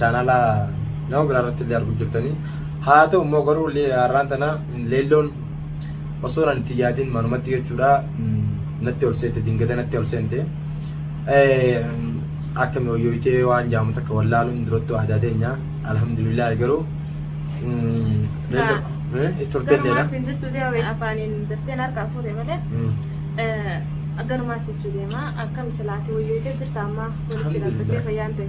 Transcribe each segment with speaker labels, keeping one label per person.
Speaker 1: chaanala nama biraa irratti illee arguu jirtanii haa ta'u immoo garuu har'aan tana leelloon osoo nan itti yaadin manumatti jechuudha natti ol seente dingata natti ol seente akka mi'ooyyootee waan jaamu takka wallaaluun duratti waa daadeenyaa alhamdulillah garuu itti turtee illee Garumaas hin jechuu deema afaaniin
Speaker 2: daftee harkaa fuute malee garumaas jechuu deema akkam silaati wayyootee jirta ammaa walitti Alhamdulillah. dhaabbattee fayyaan ta'e.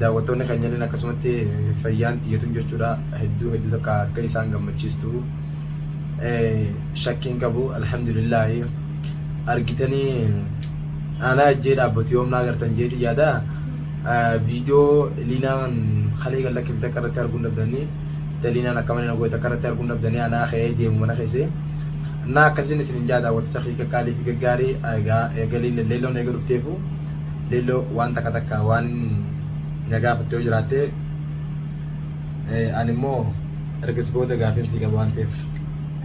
Speaker 1: daawwattoonni keenyalleen akkasumatti fayyaan tiyyatun jechuudha hedduu hedduu takka akka isaan gammachiistu shakkiin qabu alhamdulillaahi argitanii aanaa ejjee dhaabbatu yoomna agartan jeeti yaada viidiyoo liinaan kalee kan lakkifte akka irratti arguun dhabdanii taliinaan akka mana nagoota akka irratti arguun dhabdanii aanaa ka'ee deemu mana keessee naa akkasiin isin hin jaa daawwattoota kee qaqqaalii fi gaggaarii egaa eegaliin leelloon eega dhufteefu Leelloo waan takka takka waan na gaafatte yoo jiraatte eh, ani immoo ergas booda gaafin sii qabu waan ta'eef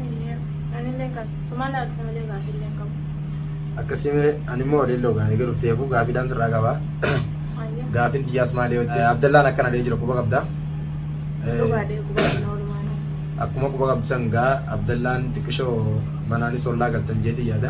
Speaker 1: Ayyee. Anillee kan
Speaker 2: sumaan laaltu malee gaafillee hin qabu. akkasii
Speaker 1: mire ani immoo leelloo gaafii galuuf ta'eefuu gaafiidhaan sirraa qaba Ayyee. gaafin xiyyaas maali yoo ta'e abdallaan akkana dhee jira quba qabda Eh, Dhugaadhee gubaadhee oolmaan. akkuma quba qabdu san gaa abdallaan xiqqishoo manaanis ollaa galtan jeetii yaada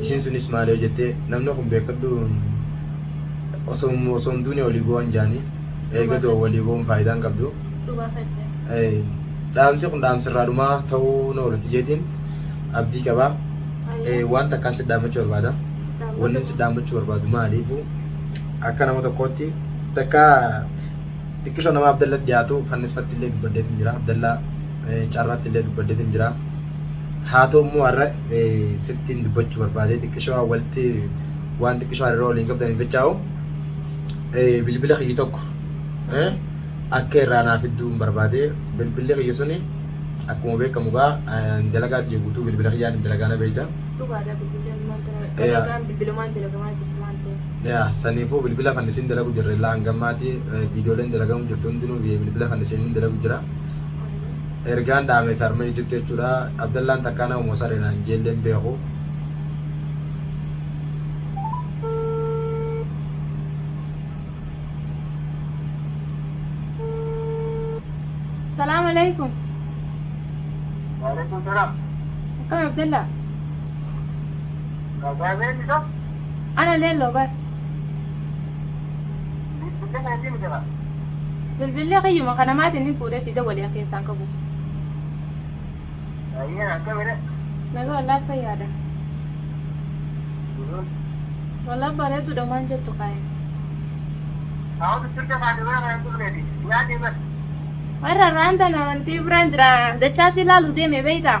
Speaker 1: isiin sunis maali yoo jettee namni kun beekadhu osoo osoo hin duune walii bu'an jaanii eega du'a walii bu'uun faayidaa hin qabdu Dhugaa fayyee. Eh, dhaamsi kun dhaamsi irraa dhumaa ta'uu na oolti jeetiin abdii qabaa Eh, waan takkaan si dhaammachuu barbaada wanni si dhaammachuu barbaadu maaliifu akka nama tokkootti takka xiqqishoo nama abdalla dhiyaatu fannisfatti illee dubbaddeetiin jira abdalla carraatti illee dubbaddeetiin jira haa ta'u immoo har'a sittiin dubbachuu barbaade xiqqishoo walitti waan xiqqishoo hariiroo waliin qabdaniif jechaa'u bilbila kiyyi tokko akka irraa naaf idduun barbaade bilbilli kiyyi suni akkuma beekamu gaa dalagaati jiru guutuu bilbila kiyyaan dalagaana beekta. Dhugaadha bilbilaan
Speaker 2: bilbilumaan dalagamaa jirti waan ta'eef. Yaa saniifuu bilbila
Speaker 1: fannisiin dalagu jirre illaa hangammaati viidiyooleen dalagamu jirtu hundinuu biyya bilbila fannisiin hin dalagu jira. Ergaan dhaamee fi harma jidduutti jechuudha. Abdallaan takkaa nama mosaree naan jeelleen beeku. Salaam
Speaker 2: alaikum. Waalaikum salaam.
Speaker 3: Akkam Abdallaa?
Speaker 2: Gaazeen isa? Ana leelloo bar. Bilbilli keetii miti kaa. Bilbilli kiyyuma kana maatiin hin fuudhee si dawwali'a keessaan qabu. Ayyee
Speaker 3: akkamidha. Nagaa wallaa
Speaker 2: fayyaadha. Wallaa bareeduudha maan jettu kaa'e. Hawa
Speaker 3: bichircha kaate bira kan dhufneeti. Nyaatee bar. Warra irraan
Speaker 2: tana wanti biraan jira dachaa si ilaalu deeme beeytaa.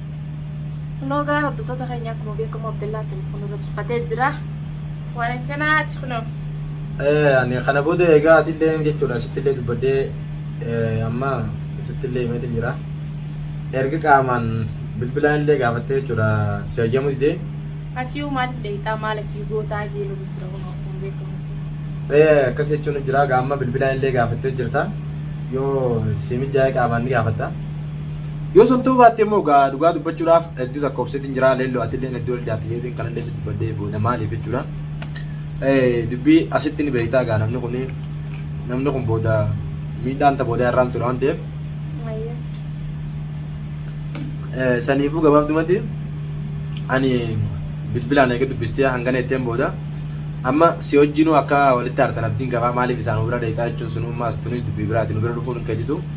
Speaker 2: Kunoo gaa hordoftoota keenya akkuma beekamu Abdallaa telefoon irra cuffatee jira. Waan akkanaati kunoo. Eh,
Speaker 1: ani kana booda egaa atillee jechuudha sittillee dubbadhee eh, amma sittillee himeetiin jira. Erga qaamaan bilbilaan illee gaafattee jechuudha si hayyamuu didee. Achii maaliif
Speaker 2: deebitaa maal achii gootaa jee lola jira kunoo akkuma beekamu. Eh, akkas
Speaker 1: jechuun jira gaamma bilbilaan illee gaafattee jirta. Yoo si mijaa'e qaamaan ni gaafatta. Yoo sun ta'uu baatte immoo gaa dhugaa dubbachuudhaaf hedduu takka obseetiin jira leelloo atilleen hedduu ol daatti jeetiin kanallee si dubbadhee booda maaliif jechuudha. Dubbii asitti ni beektaa gaa namni kun namni kun booda miidhaan ta booda irraan ture waan ta'eef saniifuu gabaabdumatti ani bilbilaan eega dubbistee hangana itteen booda amma si wajjinuu akka walitti aartan abdiin qabaa maaliif isaan bira deetaa jechuun sun ummaas tunis dubbii biraati nu bira dhufuun hin keetitu.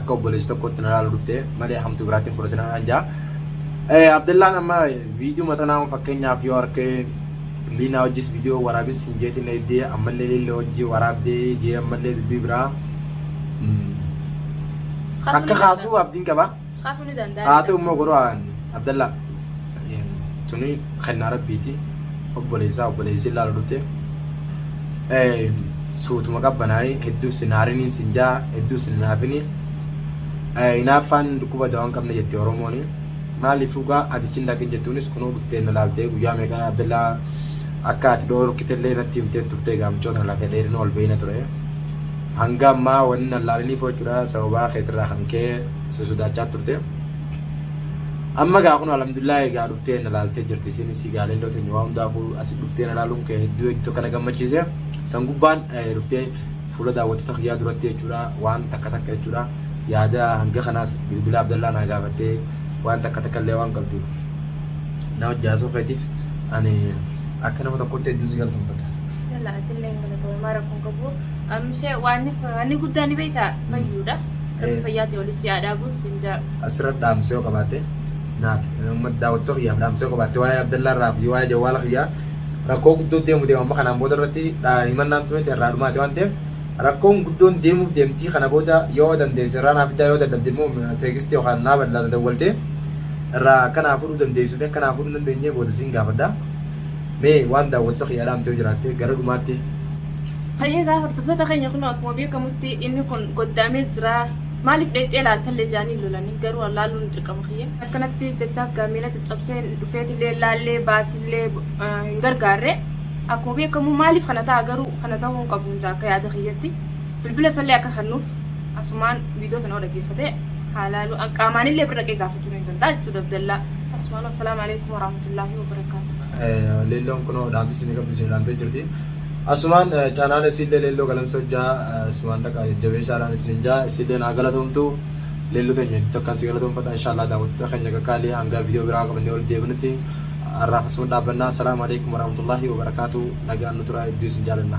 Speaker 1: akka obboleessi tokkotti na ilaalu dhufte malee hamtu biraatti hin fudhatin anaan jaa. Abdallaan amma viidiyoo matanaa fakkeenyaaf yoo harkee liinaa hojjis viidiyoo waraabin siin jeetiin na iddee ammallee lille hojii waraabdee jee ammallee dubbii biraa akka kaasuu abdiin qaba. Kaasuu ni danda'a. Haa
Speaker 2: ta'u immoo godhu
Speaker 1: Abdallaa. tuni kennaa rabbiiti obboleessaa obboleessi ilaalu dhufte suutuma qabbanaa'ee hedduu sin haariniin sin jaa hedduu sin naafini hinaaffaan dhukkuba dawaa hin qabne jette oromoon maaliif dhugaa atichi hin dhaqin jettuunis kunoo dhuftee na laaltee guyyaa meeqa abdallaa akka ati dhoorkite illee natti himtee turtee gaamchoo tana lafee dheerina ol beeyna ture hanga ammaa wanni na laaliniif jechuudha sababaa keetirraa kan ka'e si sodaachaa turte. Amma gaa kun alhamdulillah egaa dhuftee na laaltee jirti isin si gaalelloo teenya waa hundaa kun asi dhuftee na laaluun kee hedduu hedduu kana gammachiise san gubbaan dhuftee fuula daawwattoota kiyyaa duratti jechuudha waan takka takka jechuudha yaada hanga kanaas bilbila abdallaa naa gaafattee waan takka takka illee waan qabdu na hojjaasuu keetiif ani akka nama tokkotti hedduun si galtoomfadha. Yalla atillee hin galatoomaa
Speaker 2: rakkoon qabu. Amshee waan inni guddaa ni beektaa fayyuudha. Rabbi fayyaatti waliin si haa dhaabu siin jaa. Asirra dhaamsee yoo
Speaker 1: qabaatte naaf uummata daawwattoota kiyyaaf dhaamsee yoo qabaatte waa'ee Abdallaa irraa fi waa'ee jawwaala kiyyaa rakkoo guddoo deemu deema amma kanaan booda irratti himannaan tunis irraa dhumaate waan ta'eef rakkoon guddoon deemuuf deemtii kana booda yoo dandeesse irraa naaf fidaa yoo dadhabde immoo teegistii yookaan naa bal'aa dadawwaltee irraa akka naa fudhuu dandeessuu fi akka naa fudhuu hin dandeenye booda siin gaafadha. Mee waan daawwattoota kiyyaa dhaamtee yoo jiraatte gara dhumaatti Hayyee
Speaker 2: egaa hordoftoota keenya kun akkuma beekamutti inni kun goddaamee jira. Maaliif dheexxee laaltallee jaanii lolanii garuu laaluun dirqama kiyya. Akkanatti jechaas gaameela caccabsee dhufeetillee laallee baasillee hin gargaarre. Akkuma beekamu maaliif kana ta'a garuu kana ta'uu hin qabu jaa akka yaada kiyyatti. Bilbila isallee akka kennuuf asumaan viidiyoo sana dhaggeeffatee haa laalu. Qaamaanillee bira dhaqee gaafachuu ni danda'a jechuudha Abdallaa. Asumaan wassalaamu alaikum warahmatullaahi wabarakaatu. Leelloon kunoo dhaamsi
Speaker 1: isin qabdu isin dhaamtee jirti. Asumaan chaanaala isiillee leelloo galamsa hojjaa sumaan dhaqaa jajjabeessaadhaan isinin jaa isiillee naa galatoomtu leelloo teenya hedduu takkaan si galatoomfadha inshaallah daawwattoota keenya qaqqaalii hangaa viidiyoo biraa qabannee walitti deebinutti arraaf asuma dhaabbannaa salaamu alaikum warahmatullaahi wabarakaatu nagaan nu turaa hedduu isin jaalanna.